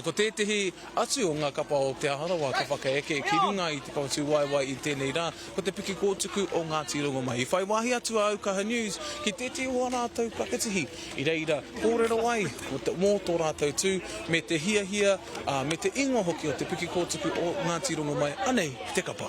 Ko tētehi atu o ngā kapa o Te Aha Rawa ka whakaeke ki runga i te whakatūwaewae i tēnei rā, ko te Piki Kōtuku o Ngāti Rongomai. I whai wāhi atu a Aukaha News ki tētehi o ā rātou pakitīhi i reira kōrero ai mō tō rātou tū me te hiahia, ā, me te ingoa hoki o te Piki Kōtuku o Ngāti Rongomai, anei te kapa.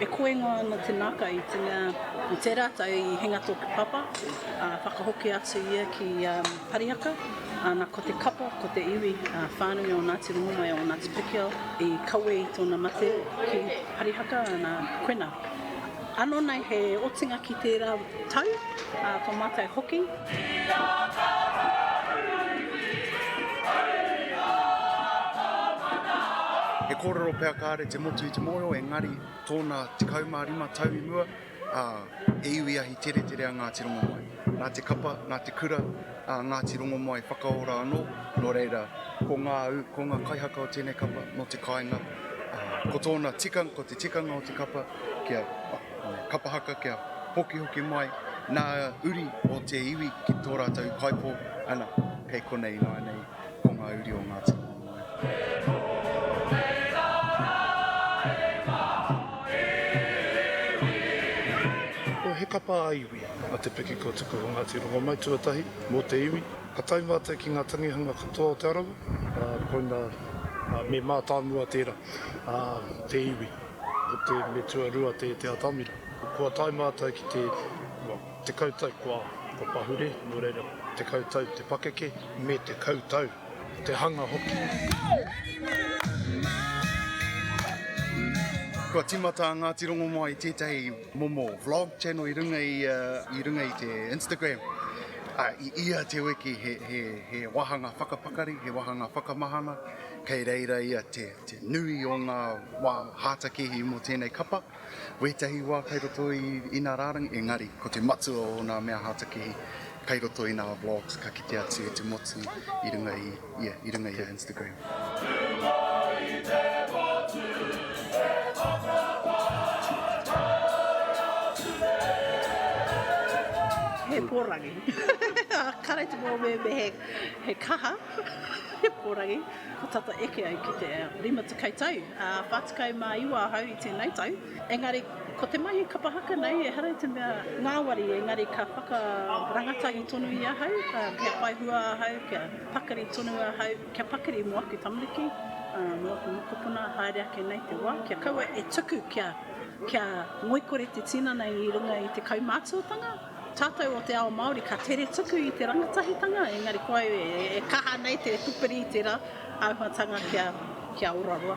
E koi noa ana te naka i te mea i tērā tau i hinga tōku papa, ā, whakahoki atu ia ki Parihaka, ana ko te kapa, ko te iwi whānui o Ngāti Rongomai, o Ngāti Pikiao i kawe i tōna mate ki Parihaka, ana koinā anō nei he otinga ki tērā tau, ko mātou hoki. He kōrero pea kāre te motu i te mōhio, engari tōna 15 tau i mua, ā, he iwi ahi teretere a Ngāti Rongomoe. Nā te kapa, nā te kura, ā, Ngāti Rongomoe whakaora anō, nō reira, ko ngā au, ko ngā kaihaka o tēnei kapa, nō te kāinga, ā, ko tōna tikang, ko te tikanga o te kapa, kia. kapa haka kia hokihoki mai nā uri o te iwi ki tō rātou kaipō, ana, kei konei ināianei ko ngā uri o Ngāti Rongomai. He kapa ā-iwi a Te Piki kua tuku ko Ngāti Rongomai tuatahi mō te iwi. Ka tae mātou ki ngā tangihanga katoa o Te Arawa, koinā me mātāmua tērā te iwi. Ko te me tuarua te te atamira. Ko kua tae mātou ki te tekau tau kua kua pahure, nō reira tekau tau te pakeke. Me tekau tau te hanga hoki. Kua timata a Ngāti Rongomoa i tētahi momo vlog channel i runga i i runga i te Instagram. A, i ia te wiki he he he wahanga whakapakari, he wahanga whakamahana, kei reira ia te. Te nui o ngā wā hātakēhi mō tēnei kapa, wētahi wā kai roto i ina rārangi, engari ko te matua o ngā mea hātakēhi kai roto i nā vlogs ka kite atu e te motu i runga i, yeah, i runga i a Instagram. He pōrangi. Kāre te mōmēmē he kaha, he pōrangi. Ka tata eke au ki te 50 tau, ā, 49 ahau i tēnei tau. Engari, ko te mahi kapa haka nei, ehara i te mea ngāwari, engari ka whakarangatahi tonu i ahau, ā, kia whai hua ahau, kia pakari tonu ahau, kia pakari mō aku tamariki, ā, mō aku mokopuna, haere ake nei te wā, kia kaua e tuku kia, kia ngoikore te tinana i runga i te kaumātuatanga. Tātou o te ao Māori ka tere tuku i te rangatahitanga, engari koe e kaha nei te pupuri i tērā āhuatanga kia ora roa.